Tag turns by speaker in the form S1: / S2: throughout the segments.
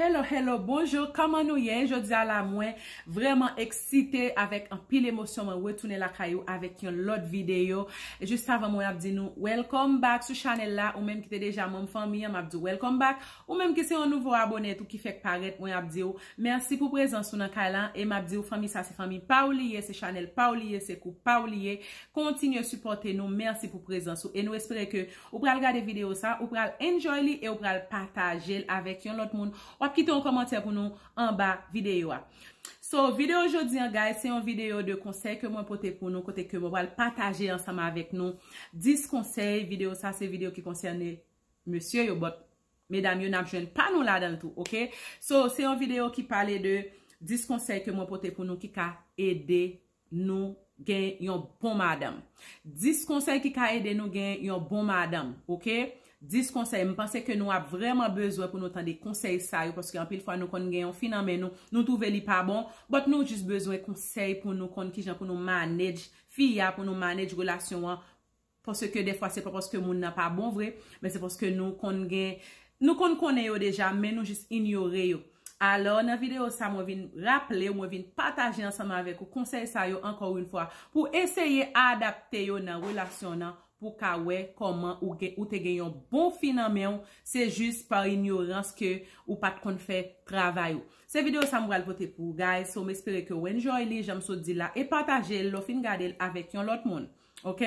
S1: Hello hello bonjour kòman nou ye jodia la mwen vrèman eksite avèk anpil emosyon mwen retounen lakay ou avèk yon lòt videyo jis avan mwen ap di nou welcome back sou chanèl la ou menm ki te deja manm fanmi an map diw welcome back ou menm ki se yon nouvo abòne tou ki fèk parèt mwen ap diw mèsi pou prezans ou nan kay la e map diw fanmi sa se fanmi paw li ye se chanèl paw li ye se kou paw li ye kontinye sipòte nou mèsi pou prezans ou e nou espere ke Ou pral gade video sa, ou pral enjoy li e ou pral patajel avèk yon lòt moun. Wap kite yon kòmantè pou nou anba video a. So, video jodi an guys, se yon video de konsèy ke mwen pote pou nou, kote ke mwen pral pataje ansanm avèk nou 10 konsèy, video sa se video ki konsène mesye yo, but medam yo nap jwenn pa nou ladanl tou, ok? So, se yon video ki pale de 10 konsèy ke mwen pote pou nou ki ka ede. nou gen yon bon madanm. 10 konsèy ki ka ede nou gen yon bon madanm. Ok? 10 konsèy. M panse ke nou ap vrèman bezwen pou nou tande konsèy sa yo paske anpil fwa nou konn gen yon fi nan men nou, nou twouve li pa bon, but nou jis bezwen konsèy pou nou konn kijan pou nou manage fi a, pou nou manage relasyon an. Paske dèfwa se pa paske moun nan pa bon vre, men se paske nou konn gen, nou konn konnen yo deja, men nou jis inyore yo. Alò, nan videyo sa mwen vin raple ou, mwen vin pataje ansanm avèk ou konsèy sa yo ankò oun fwa, pou eseye adapte yo nan relasyon w nan, pou w ka wè kòman ou te gen yon bon fi nan men w, se jis pa inyorans ke ou pat konn fè travay ou. Se videyo sa m pral pote pou ou guys, so m espere ke ou enjoy li, jan m sot di la, e pataje l lè w fin gade l avèk yon lòt moun. Ok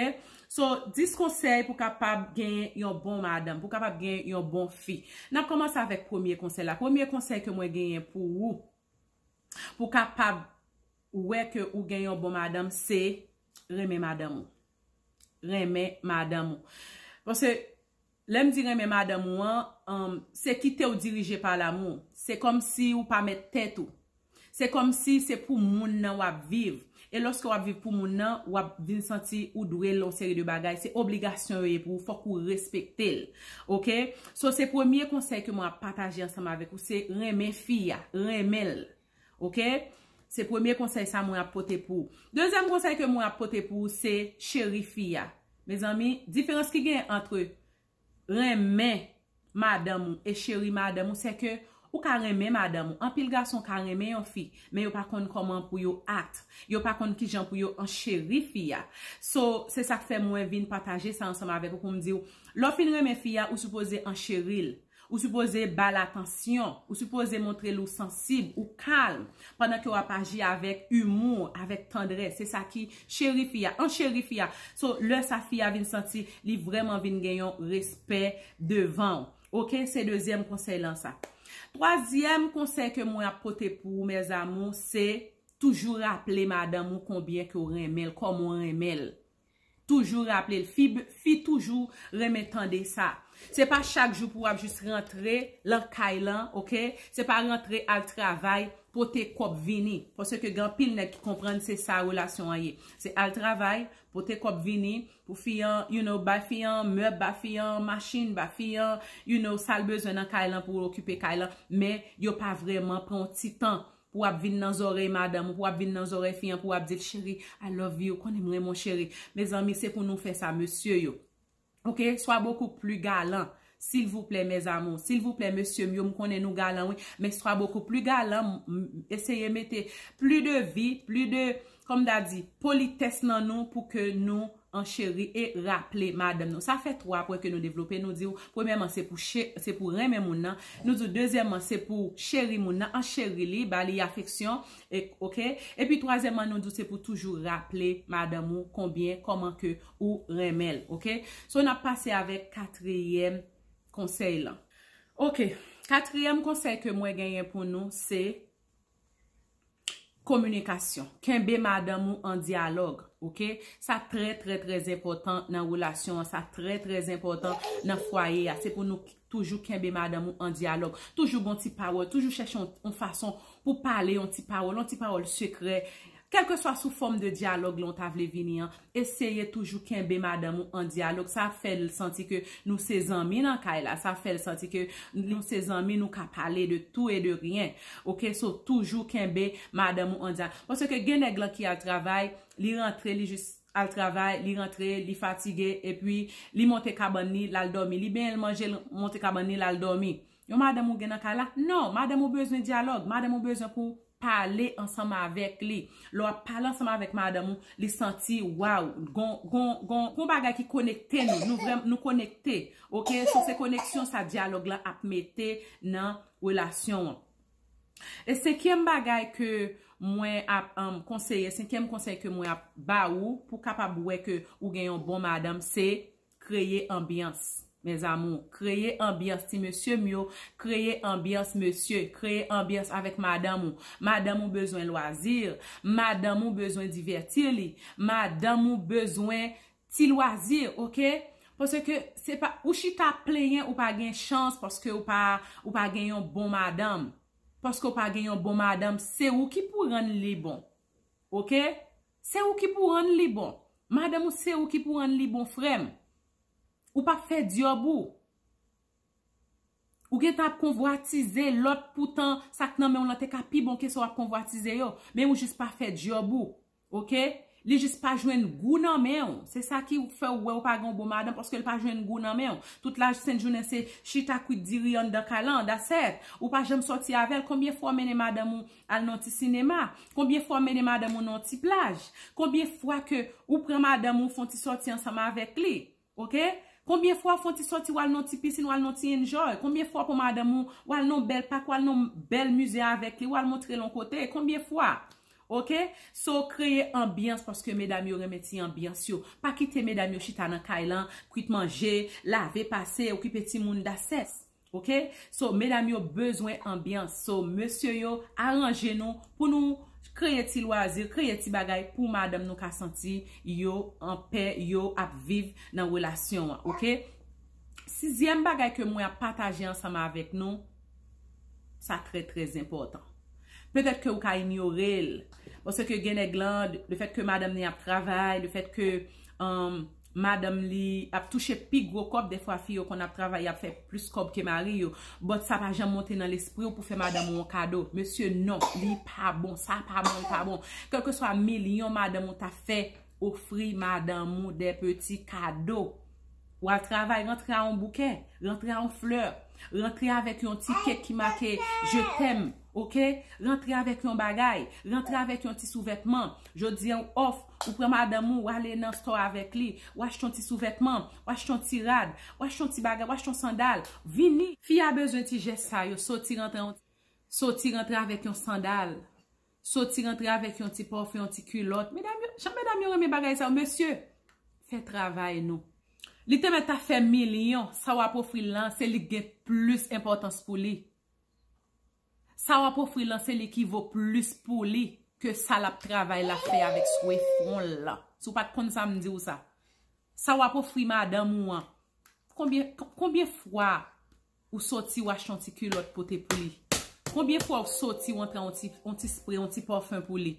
S1: So 10 konsèy pou kapab gen yon bon madanm Pou kapab gen yon bon fi Nap kòmanse avèk premye konsèy la Premye konsèy ke mwen genyen pou ou Pou kapab wè ke ou gen yon bon madanm se Renmen madanm ou Renmen madanm ou Paske Lè m di renmen madanm ou an, se kite w dirije pa lamou. Se kòmsi ou pa mèt tèt ou. Se kòmsi se pou moun nan w ap viv. E lòske w ap viv pou moun nan, w ap vin santi ou dwe l yon seri de bagay. Se obligasyon yo ye pou ou, fòk ou respekte l. Ok? So se premye konsèy ke mwen ap pataje ansanm avèk ou, se renmen fi a. Renmen l. Ok Se premye konsèy sa mwen ap pote pou ou. Dezyèm konsèy ke mwen ap pote pou ou se cheri fi a. Mezanmi, diferans ki gen antre renmen madanm ou e cheri madanm ou se ke ou ka renmen madanm ou. Anpil gason ka renmen yon fi, men yo pa konn kòman pou yo act. Yo pa konn kijan pou yo ancheri fi a. So, se sak fè mwen vin pataje sa ansanm avèk ou pou m di ou, lè w fin renmen fi a, ou sipoze ancheri l. Ou sipoze ba l atansyon. Ou sipoze montre l ou sansib, ou kalm, pandan ke w ap aji avèk imou, avèk tandrès. Se sa ki cheri fi a. An cheri fi a. So, lè sa fi a vin santi li vrèman vin gen yon respè devan ou. Ok, se dezyèm konsèy lan sa. Twazyèm konsèy ke mwen ap pote pou ou mes amours, se toujou raple madanm ou konbyen ke w renmen l, kòman w renmen l. Toujou raple l fi fi toujou renmen tande sa se pa chak jou pou wap jis rantre lan kay lan ok se pa rantre al travay pote kòb vini pase ke gen anpil nèg ki konprann se sa relasyon an ye se al travay pote kòb vini pou fi an you know bay fi an mèb ba fi an machin ba fi an you know sal bezwen nan kay lan pou okipe kay lan men yo pa vreman pran yon ti tan Pou ap vin nan zòrèy madanm ou pou ap vin nan zòrèy fi an pou ap dil cheri I love you konnen m renmen w cheri mezanmi se pou nou fè sa mesye yo ok swa bokou pli galan silvouplè mes amour silvouplè mesye m yo m konnen nou galan wi men swa bokou pli galan eseye mete pli de vi pli de Kòm ta di, politès nan nou pou ke nou ancheri e raple madanm nou. Sa fè twa pwen ke nou devlope. Nou di ou, premyèman, se pou che, se pou renmen moun nan. Nou di ou, dezyèmman, se pou ou cheri moun nan, ancheri li, ba li afeksyon, e, ok. Epi twazyèmman, nou di ou se pou toujou raple madanm ou konbyen, kòman ke ou renmen l, ok. So, n ap pase avèk katriyèm konsèy lan. Ok. Katriyèm konsèy ke mwen genyen pou nou se, Kominikasyon, kenbe madanm ou an dyalòg, ok, sa trè trè trè enpòtan nan relasyon an, sa trè trè enpòtan nan fwaye a, se pou nou toujou kenbe madanm ou an dyalòg, toujou gon ti pawòl, toujou chèche yon fason pou pale yon ti pawòl, yon ti pawòl sekrè, Kèlkeswa sou fòm de dyalòg lan w ta vle vini an, eseye toujou kenbe madanm ou an dyalòg, sa ap fè l santi ke nou se zanmi nan kay la, sa ap fè l santi ke nou se zanmi nou ka pale de tou e de ryen ok, so toujou kenbe madanm ou an dyalòg, paske gen nèg lan ki al travay, li rantre li jis al travay, li rantre li fatige epi li monte kabann li l al dòmi, li benyen l manje l monte kabann li l al dòmi. Yon madanm ou gen nan kay la? Non! Madanm ou bezwen dyalòg. Madanm ou bezwen pou w pale ansanm avèk li. Lè w ap pale ansanm avèk madanm ou, li santi, waw, gon, gon, gon, gon bagay ki konekte nou. Nou vrèm, nou konekte. Ok? So, se koneksyon sa dyalòg la ap mete nan relasyon an. E senkyèm bagay ke mwen ap konseye, senkyèm konsèy ke mwen ap ba ou pou w kapab wè ke ou gen yon bon madanm, se Kreye anbyans mes amours kreye anbyans ti mesye m yo kreye anbyans mesye kreye anbyans avèk madanm ou madanm ou bezwen loisir madanm ou bezwen divètir li madanm ou bezwen ti loisir ok paske se pa ou chita ap plenyen ou pa gen chans paske ou pa ou pa gen yon bon madanm paske ou pa gen yon bon madanm se ou ki pou rann li bon ok. Se ou ki pou rann li bon. Madanm ou se ou ki pou rann li bon frèm. Ou pap fè dyob ou. Ou gentan ap konvwatize lòt poutan sak nan menw lan te ka pi bon ke sa wap konvwatize yo. Men ou jis pa fè dyob ou. Ok. Li jis pa jwenn gou nan menw. Se sa ki fèw wè ou pa gen yon bon madanm paske li pa jwenn gou nan menw. Tout la sent jounen se chita kwit diri anndan kay lan. That's it. Ou pa janm sòti avèl. Konbyen fwa ou mennen madanm ou al nan ti sinema, konbyen fwa w mennen madanm ou nan ti plaj, konbyen fwa ke ou pran madanm ou fon ti sòti ansanm avèk li, ok, konbyen fwa w fon ti sòti w al nan ti pisin, w al nan ti enjoy, konbyen fwa w pran madanm ou, w al nan bèl pak, w al nan bèl mize avèk li, w al montre l yon kote, konbyen fwa, ok, so kreye anbyans paske medam yo renmen ti anbyans yo, pa kite medam yo chita nan kay lan, kwit manje, lave, pase, okipe timoun, dasess. Ok so medam yo bezwen anbyans so mesye yo aranje nou pou nou kreye ti lwazi kreye ti bagay pou madanm nou ka santi yo anpè yo ap viv nan relasyon an ok sizyèm bagay ke mwen ap pataje ansanm avèk nou sa trè trè zenpòtan petèt ke ou ka inyore l paske gen nèg lan lefèt ke madanm ni ap travay lefèt ke madanm li ap touche pi gwo kòb dèfwa fi yo konn ap travay yap fè plis kòb ke mari yo but sa pa janm monte nan lespriw pou fè madanm ou yon kado mesye non li pa bon sa pa bon li pa bon kelkeswa milyon madanm ou ta fè ofri madanm ou de peti kado wal travay rantre a yon bouke rantre a yon fleur rantre avèk yon ti kek ki make je t'aime. Ok, rantre avèk yon bagay, rantre avèk yon ti souvètman. Jodi an ou off, ou pran madanm ou, ou ale nan store avèk li, ou achte yon ti souvètman, ou achte yon ti rad, ou achte yon ti bagay, ou achte yon sandal, vini. Fi a bezwen ti jès sa yo, soti rantre yon, soti rantre avèk yon sandal, soti rantre avèk yon ti parfum, yon ti kulòt. Medam yo, jan medam yo renmen bagay sa yo. Mesye, fè travay nou. Li te mèt ta fè milyon, sa wap ofri l lan, se li k gen plis enpòtans pou li. Sa wap ofri lan se li ki vo plis pou li ke sa lap travay la fè avèk swe fwon l lan. Si w pat konn sa m di w sa. Sa wap ofri madanm ou an. Konbyen fwa ou soti ou achte yon ti kilòt pote pou li. Konbyen fwa ou soti ou antre yon ti spre, yon ti parfum pou li.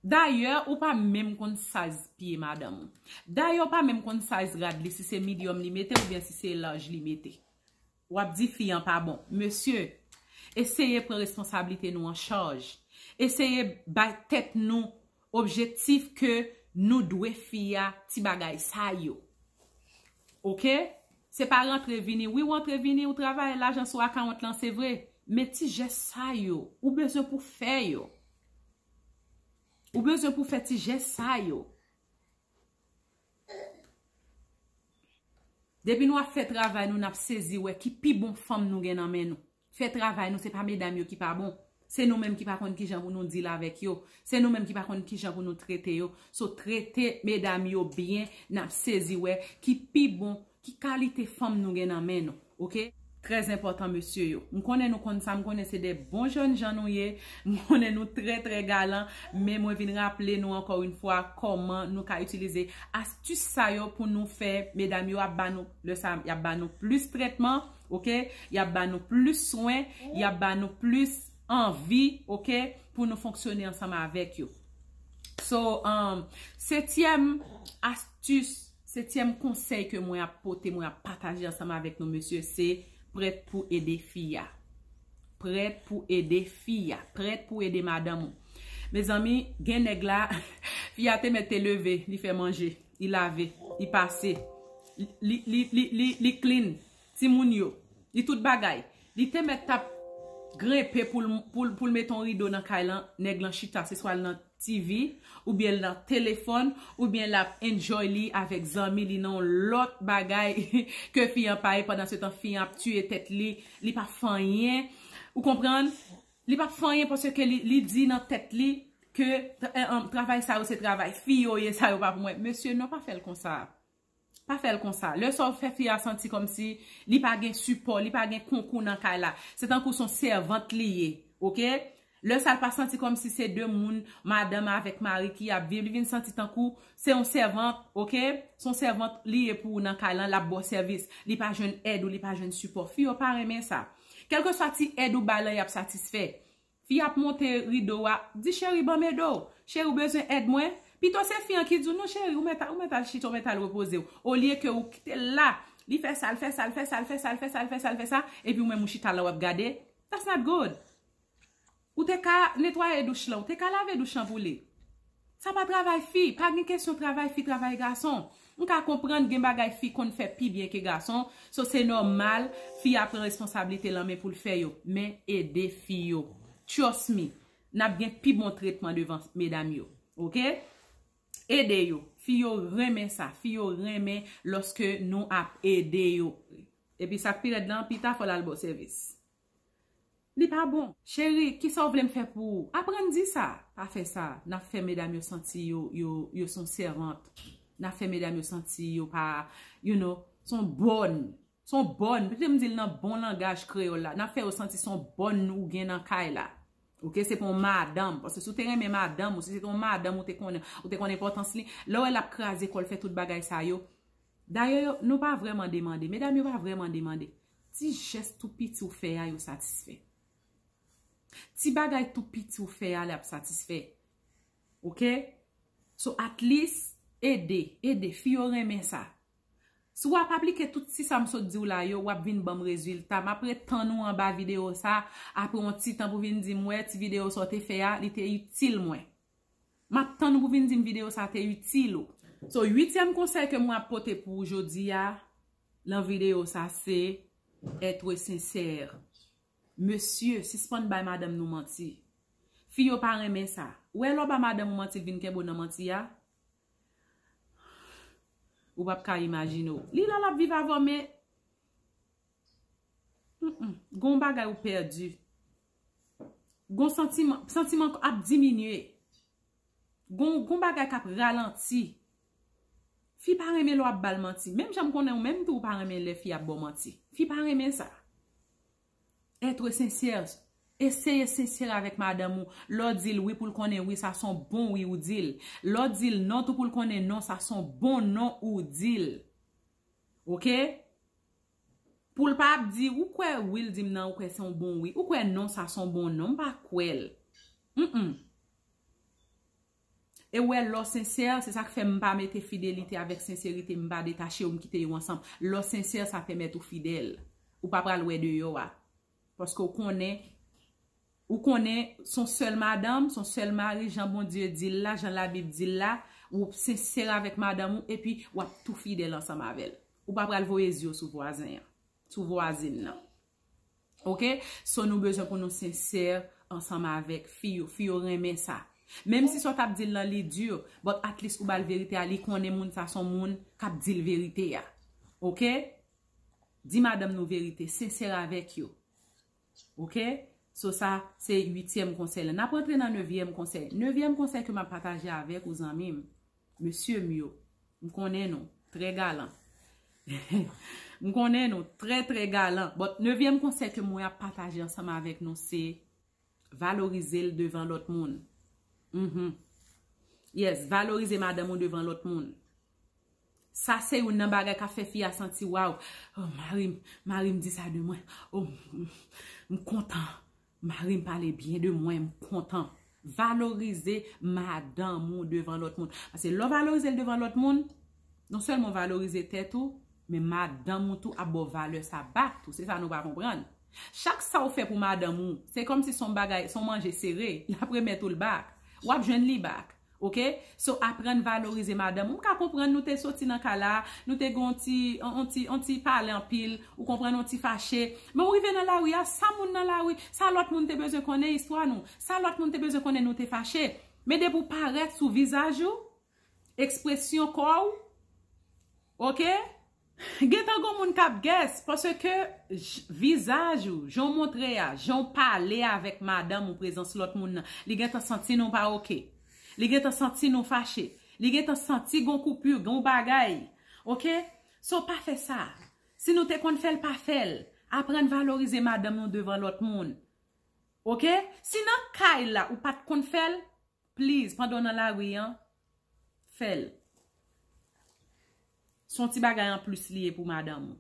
S1: Dayè ou pa menm konn size pye madanm ou. Dayè ou pa menm konn size rad li si se medium li mete oubyen si se large li mete. Wap di fi an pa bon. Mesye, eseye pran responsablite nou an chaj. Eseye bay tèt nou objektif ke nou dwe fi a ti bagay sa yo. Ok? Se pa rantre vini. Wi ou antre vini, ou travay, lajan sou akawont lan se vre. Men ti jès sa yo, ou bezwen pou fè yo. Ou bezwen pou fè ti jès sa yo. Depi nou ap fè travay nou nap sezi wè ki pi bon fanm nou gen nan men nou. Fè travay nou se pa medam yo ki pa bon. Se nou menm ki pa konn kijan pou nou deal avèk yo. Se nou menm ki pa konn kijan pou nou trete yo. So trete medam yo byen nap sezi wè ki pi bon fanm. Ki kalite fanm nou gen nan men nou ok. Très enpòtan mesye yo. M konnen nou konn sa, m konnen se 2 bon jèn jan nou ye, m konnen nou trè trè galan, men mwen vin raple nou ankò yn fwa kòman nou ka itilize astus sa yo pou nou fè medam yo ap ba nou lè sa yap ba nou plis trètman ok, yap ba nou plis swen, yap ba nou plis anvi ok pou nou fonksyone ansanm avèk yo. So, setyèm astus. Tus, Setyèm konsèy ke mwen ap pote, mwen ap pataje ansanm avèk nou mesye, se prèt pou ede fi a. Prèt pou ede fi a. Prèt pou ede madanm ou. Mezanmi, gen nèg la, fi a te mèt te leve, li fè manje, li lave, li pase, li clean, Timoun yo. Li tout bagay. Li te mèt tap grenpe pou l mete yon rido nan kay lan, nèg lan chita se swa l nan TV oubyen l nan telefòn oubyen lap enjoy li avèk zanmi li nan yon lòt bagay ke fi an pa ye pandan se tan fi an ap tiye tèt li, li pa fè anyen ou konprann, li pa fè anyen paske li di nan tèt li ke travay sa yo se travay fi yo ye sa yo pa pou mwen. Mesye non pa fè l konsa. Pa fè l konsa. Lè sa w fè fi a santi kòmsi li pa gen sipò, li pa gen konkou nan kay la. Se tankou s on sèvant li ye. Ok? Lè sa l pa santi kòmsi se de moun, madanm avèk mari ki ap viv. Li vin santi tankou se yon sèvant. Ok? S on sèvant li ye pou ou nan kay lan, l ap ba w sèvis. Li pa jwenn èd ou, li pa jwenn sipò. Fi yo pa renmen sa. Kèlkeswa ti èd ou bay lan y ap satisfè. Fi ap monte rido wa Di cheri banm ede w Cheri w bezwen èd mwen Pito se fi an ki di w non cheri ou mèt ou mèt al chita ou mèt al repoze w olye ke ou kite l la li fè sa l fè sa l fè sa l fè sa l fè sa l fè sa l fè sa epi ou menm ou chita la w ap gade that's not good ou te ka netwaye douch lan ou te ka lave douch lan pou li. Sa pa travay fi, pa gen kesyon travay fi travay gason. M ka konprann gen bagay fi konn fè pi byen ke gason, so se nòmal fi a pran responsablite l an men pou l fè yo. Men ede fi yo. Trust me, n ap gen pi bon tretman devan medam yo. Ok? Ede yo. Fi yo renmen sa. Fi yo renmen lòske nou ap ede yo. Epi sa k pi rèd lan, pita fò l al ba w sèvis. Li pa bon. Cheri, kisa w vle m fè pou ou? Aprann di sa! Pa fè sa. N ap fè medam yo santi yo, yo, yo s on sèvant. N ap fè medam yo santi yo pa, you know, s on bòn. S on bòn. Kite m di l nan bon langaj kreyòl la. N ap fè yo santi s on bòn ou gen nan kay la. Ok? Se pa yon madanm. Paske si w te renmen madanm ou, si se te yon madanm ou te konnen, ou te konn enpòtans li. Lè w wè l ap kraze kò l fè tout bagay sa yo. Dayè yo, nou pa vrèman demande. Medam yo pa vrèman demande. Ti jès tou piti ou fè a yo satisfè. Ti bagay tou piti ou fè a li ap satisfè. Ok? So at least, ede, ede. Fi yo renmen sa. Si w ap aplike tout ti sa m sot di w la yo, w ap vin ban m rezilta. M ap ret tann ou anba videyo sa, apre yon ti tan pou vin di m wè ti videyo sa w te fè a, li te itil mwen. Map tann ou pou vin dim video sa te itil ou. So 8 tièm konsèy ke mwen ap pote pou ou jodia nan video sa se être sincère. Mesye sispann bay madanm nou manti. Fi yo pa renmen sa. Ou wè lè w ba madanm ou manti li vin kenbe w nan manti a? Ou pap ka imajine w. Li la lap viv avè w men. Gon bagay ou pèdi. Gon santiman, santiman ou ap diminye. Gon bagay kap ralanti. Fi pa renmen lè wap bal manti. Menm jan m konnen ou menm tou ou pa renmen lè fi ap baw manti. Fi pa renmen sa. Etre sensè. Eseye sensè avèk madanm ou. Lè w dil wi pou l konnen wi sa son bon wi ou dil. Lè w dil non tou pou l konnen non sa son bon non ou dil. Ok Poul pa ap di ou kwè wi l dim nan ou kwè son bon wi ou kwè non sa son bon non m pa kwèl Humm e ou wè lò sensè se sak fè m pa mete fidelite avèk senserite m pa detache yo m kite yo ansanm lò sensè sa pèmèt ou fidèl ou pa pral wè deyò a. Paske ou konnen, ou konnen son sèl madanm, son sèl mari, jan Bondye di l la, jan Labib di l la, ou sensè avèk madanm ou, epi w ap tou fidèl ansanm avè l. Ou pa pral voye zye w sou vwazen an, sou vwazin nan. Ok? So nou bezwen pou nou sensè ansanm avèk fi yo. Fi yo renmen sa. Menm si sa w t ap di l lan li di, but at least ou ba l verite a, li konnen moun sa son moun k ap di l verite a. Ok? Di madanm nou verite, sensè avèk yo. Ok, so sa se uityèm konsèy la. N ap rantre nan nevyèm konsèy. Nevyèm konsèy ke m ap pataje avèk ou zanmi m, mesye m yo, m konnen nou trè galan. M konnen nou trè trè galan. Bon, nevyèm konsèy ke mwen ap pataje ansanm avèk nou se, Valorize l devan lòt moun. Mh. Yes, valorize madanm ou devan lòt moun. Sa se youn nan bagay k ap fè fi a santi waw, oh mari m, mari m di sa de mwen, oh m kontan, mari m pale byen de mwen, m kontan. Valorize madanm ou devan lòt moun. Pase lè w valorize l devan lòt moun, non sèlman w valorize tèt ou, men madanm ou tou ap ba w valè sa back tou. Se sa nou pa konprann. Chak sa ou fè pou madanm ou, se kòmsi son bagay, son manje sere, lap remèt ou l back. Wap jwenn li back. Ok? So aprann valorize madanm ou. M ka konprann nou te soti nan kay la, nou te gen yon ti, yon ti, yon ti pale anpil, ou konprann, yon ti fache. Men ou rive nan lari a, sa moun nan lari, sa lòt moun te bezwen konnen istwa nou. Sa lòt moun te bezwen konnen nou te fache. Men depi ou parèt sou vizaj ou. Ekspresyon kò ou Ok Gentan gon moun kap guess Pase ke vizaj ou Jan w montre a Jan w pale avèk madanm ou prezans lòt moun nan Li gentan santi nou pa ok Li gentan santi nou fache Li gentan santi gon koupur Gon bagay Ok So pa fè sa Si nou te konn fè l pa fè l Aprann valorize madanm nou devan lòt moun Ok Si nan kay la ou pat konn fè l Please pandan w nan lari an fè l. S on ti bagay an plis li ye pou madanm ou.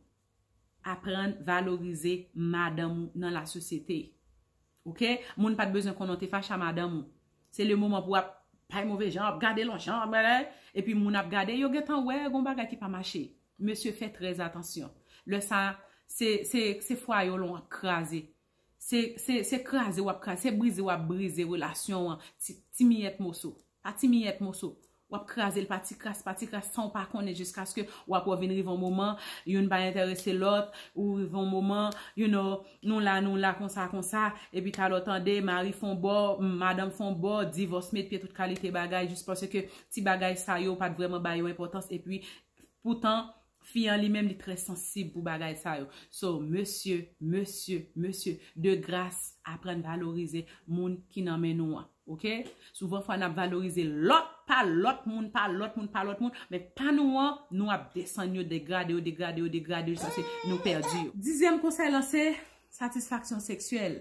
S1: Aprann valorize madanm ou nan la sosyete. Ok moun pat bezwen konnen w te fache a madanm ou. Se le moman pou w ap bay move jan, ap gade l on jan, epi moun ap gade yo gentan wè gon bagay ki pa mache. Mesye fè trèzatansyon. Lè sa se fwaye w lan w ap kraze. Se kraze wap kraze, se brize wap brize relasyon an ti miyèt moso. Pa ti miyèt moso. Wap kraze l pa ti kras, pa ti kras san w pa konnen jiskaske wap wè w vin rive yon moman, youn pa entèrese lòt, ou rive yon moman, you know, nou la nou la konsa konsa, epi ta lè w tande mari fè yon bò, madanm fè yon bò, divòs met pye tout kalite bagay jis paske ti bagay sa yo pat vrèman bay yo enpòtans epi poutan Fi an li menm li trè sansib pou bagay sa yo. So mesye, mesye, mesye, de gras aprann valorize moun ki nan men nou an. Ok? Souvan fwa nap valorize lòt, pa lòt moun, pa lòt moun, pa lòt moun, men pa nou an, nou ap desann yo, degrade yo, degrade yo, degrade yo, jiskaske nou pèdi yo. Dizyèm konsèy lan se, satisfaksyon seksyèl.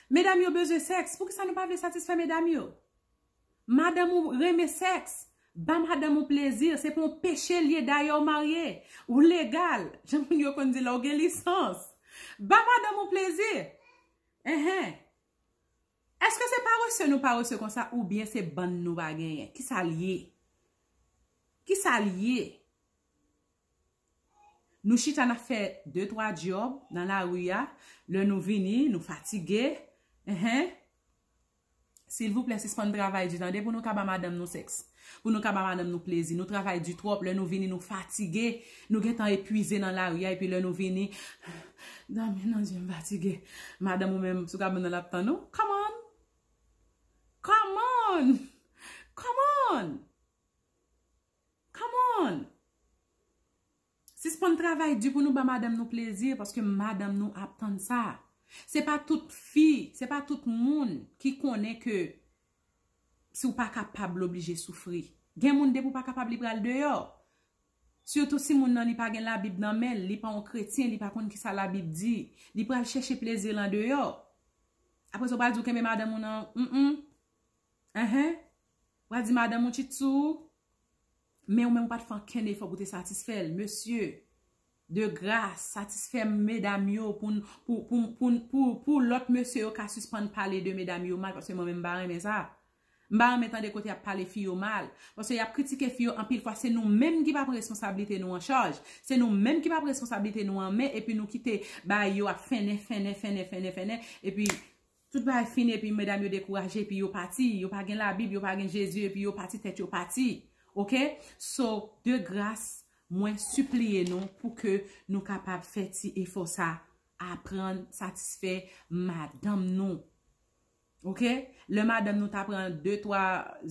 S1: Medam yo bezwen sèks, poukisa nou pa vle satisfè medam yo? Madanm ou renmen sex. Ba madanm ou plezi, se pa yon peche li ye dayè ou marye. Ou legal, jan moun yo konn di la ou gen lisans. Ba madanm ou plezi. Enhen. Eske se parese nou parese konsa ou byen se bann nou pa genyen. Ki sa li ye? Ki sa li ye? Nou chita na fè de twa dyob nan la ri a, lè nou vini nou fatige. Enhen. Silvouplè sispann travay di tande pou nou ka ba madanm nou sèks. Pou nou ka ba madanm nou plezi. Nou travay di twòp lè nou vini nou fatige. Nou gentan epwize nan lari a epi lè nou vini Dòmi nan zyem fatige. Madanm ou menm sou kabann nan lap tann ou. Come on! Come on! Come on! Come on! Sispann travay di pou nou ba madanm nou plezi paske madanm nou ap tann sa. Se pa tout fi, se pa tout moun ki konnen ke si w pa kapab l oblije soufri. Gen moun depi w pa kapab li pral deyò. Sitou si moun nan li pa gen labib nan men l, li pa yon kretyen, li pa konn kisa labib di, li pral chèche plezi l andeyò. Apre sa w pral di w kenbe madanm ou nan, m m, enhen, w pral di madanm ou tchit sou ou. Men ou menm ou pat fè ankenn efò pou te satisfè l. Mesye, de gras, satisfè medam yo pou lòt mesye yo ka sispann pale de medam yo mal paske mwen menm m pa renmen sa. M pa renmen tande kote y ap pale fi yo mal. Paske y ap kritike fi yo anpil fwa se nou menm ki pa pran responsablite nou an chaj. Se nou menm ki pa pran responsablite nou an men epi nou kite bagay yo ap fennen, fennen, fennen, fennen, fennen epi Tout bagay fini epi medam yo dekouraje epi yo pati yo pa gen labib yo pa gen jezi epi yo pati tèt yo pati ok so de gras mwen sipliye nou pou ke nou kapab fè ti efò sa aprann satisfè madanm nou ok lè madanm nou ta pran 2 3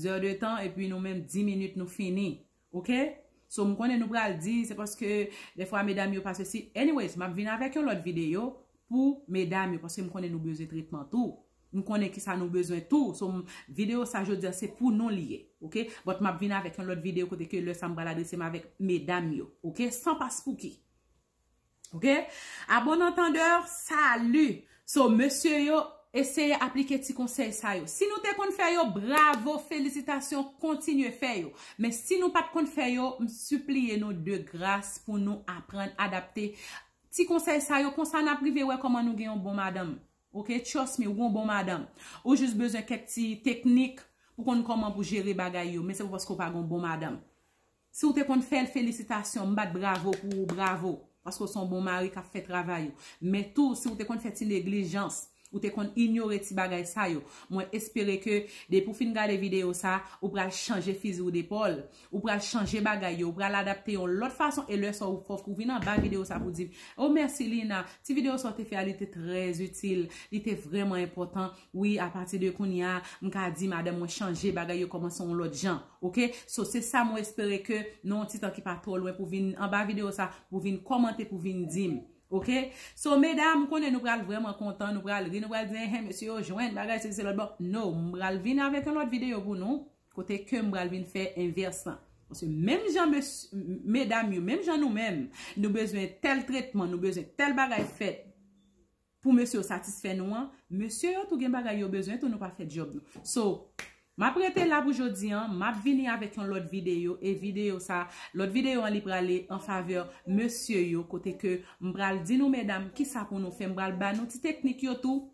S1: zè de tan epi nou menm 10 minit nou fini Ok So m konnen nou pral di se paske defwa medam yo pa sesi Anyways map vin avek yon lot video pou medam yo paske m konnen nou bezwen tretman tou M konnen kisa nou bezwen tou So m video sa jodia se pou nou li ye Ok But map vin avek yon lot video kote ke lè sa m pral adrese m avek medam yo Ok San paspouki. Ok a bon antandeur salu so mesye yo eseye aplike ti konsey sa yo si nou te konn fè yo bravo felisitasyon kontinye fè yo men si nou pat konn fè yo m sipliye nou de gras pou nou aprann adapte ti konsey sa yo konsa nap rive wè koman nou gen yon bon madanm ok trust me ou gon bon madanm ou jis bezwen kèk ti teknik pou konn koman pou jere bagay yo men se pa paske ou pa gon bon madanm. Si w te konn fè l felisitasyon m bat bravo pou ou bravo paske w son bon mari kap fè travay ou men tou si w te konn fè ti neglijans ou te konn inyore ti bagay sa yo mwen espere ke depi w fin gade video sa ou pral chanje fizi w depòl ou pral chanje bagay yo ou pral adapte yon lòt fason e lè sa w fòk ou vin anba video sa pou w di m oh mèsi Lina ti video sa w te fè a li te trè itil li te vrèman enpòtan Wi a pati de kounye a, m ka di madanm mwen chanje, bagay yo kòmanse yon lòt jan. Ok, so se sa mwen espere ke nan yon ti tan ki pa twò lwen pou vin anba videyo sa, pou vin kòmante, pou vin di m. Ok, so medam m konnen nou pral vrèman kontan, nou pral ri, nou pral di enhen mesye yo jwenn bagay sesi selòt bon. No, m pral vin avèk yon lòt videyo pou nou, kote ke m pral vin fè envès lan. Paske menm jan mesye, medam yo, menm jan nou menm, nou bezwen tèl tretman, nou bezwen tèl bagay fèt. pou mesye yo satisfè nou an mesye yo tou gen bagay yo bezwen tou nou pa fè djòb nou so map rete la pou jodi an map vini avèk yon lòt videyo e videyo sa lòt videyo an li prale an favè mesye yo kote ke m pral di nou medam ki sa pou nou fè m pral ba nou ti teknik yo tou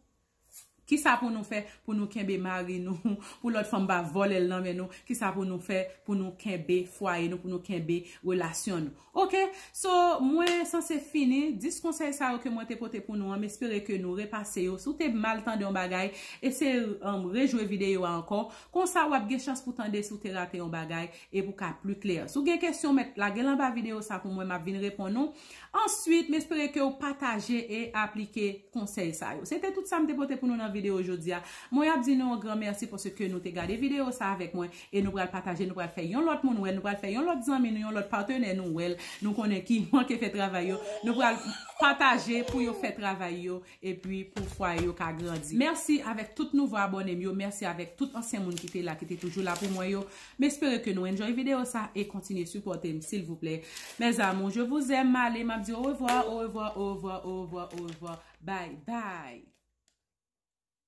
S1: ki sa pou nou fè pou nou kenbe mari nou pou lòt fanm pa vòlè l nan men nou ki sa pou nou fè pou nou kenbe fwaye nou pou nou kenbe relasyon nou. Ok, so mwen sanse fini, 10 konsèy sa yo ke mwen te pote pou nou an, m espere ke nou repase yo, si w te mal tande yon bagay, eseye rejwe videyo a ankò, konsa wap gen chans pou tande si w te rate yon bagay, e pou ka pli klè. Si w gen kesyon w mèt lage l anba videyo sa pou mwen, map vin reponn ou. Answit, m espere ke w pataje e aplike konsèy sa yo. Se te tout sa m te pote pou nou nan videyo jodi a. Mwen ap di nou yon gran mèsi paske nou te gade videyo sa avèk mwen, e nou pral pataje, nou pral fè yon lòt moun wè l, nou pral fè yon lòt zanmi nou, yon lòt patenè nou wè l, nou konnen ki manke fè travay yo, nou pral pataje pou yo fè travay yo, epi pou fwaye yo ka grandi. Mèsi avèk tout nouvo abòne m yo, mèsi avèk tout ansyen moun ki te la, ki te toujou la pou mwen yo. M espere ke nou enjoy video sa e kontinye sipòte m silvouplè. Mes amours, je vous aime, m ale, m ap di orevwa, orevwa, orevwa, orevwa, orevwa, bye bye!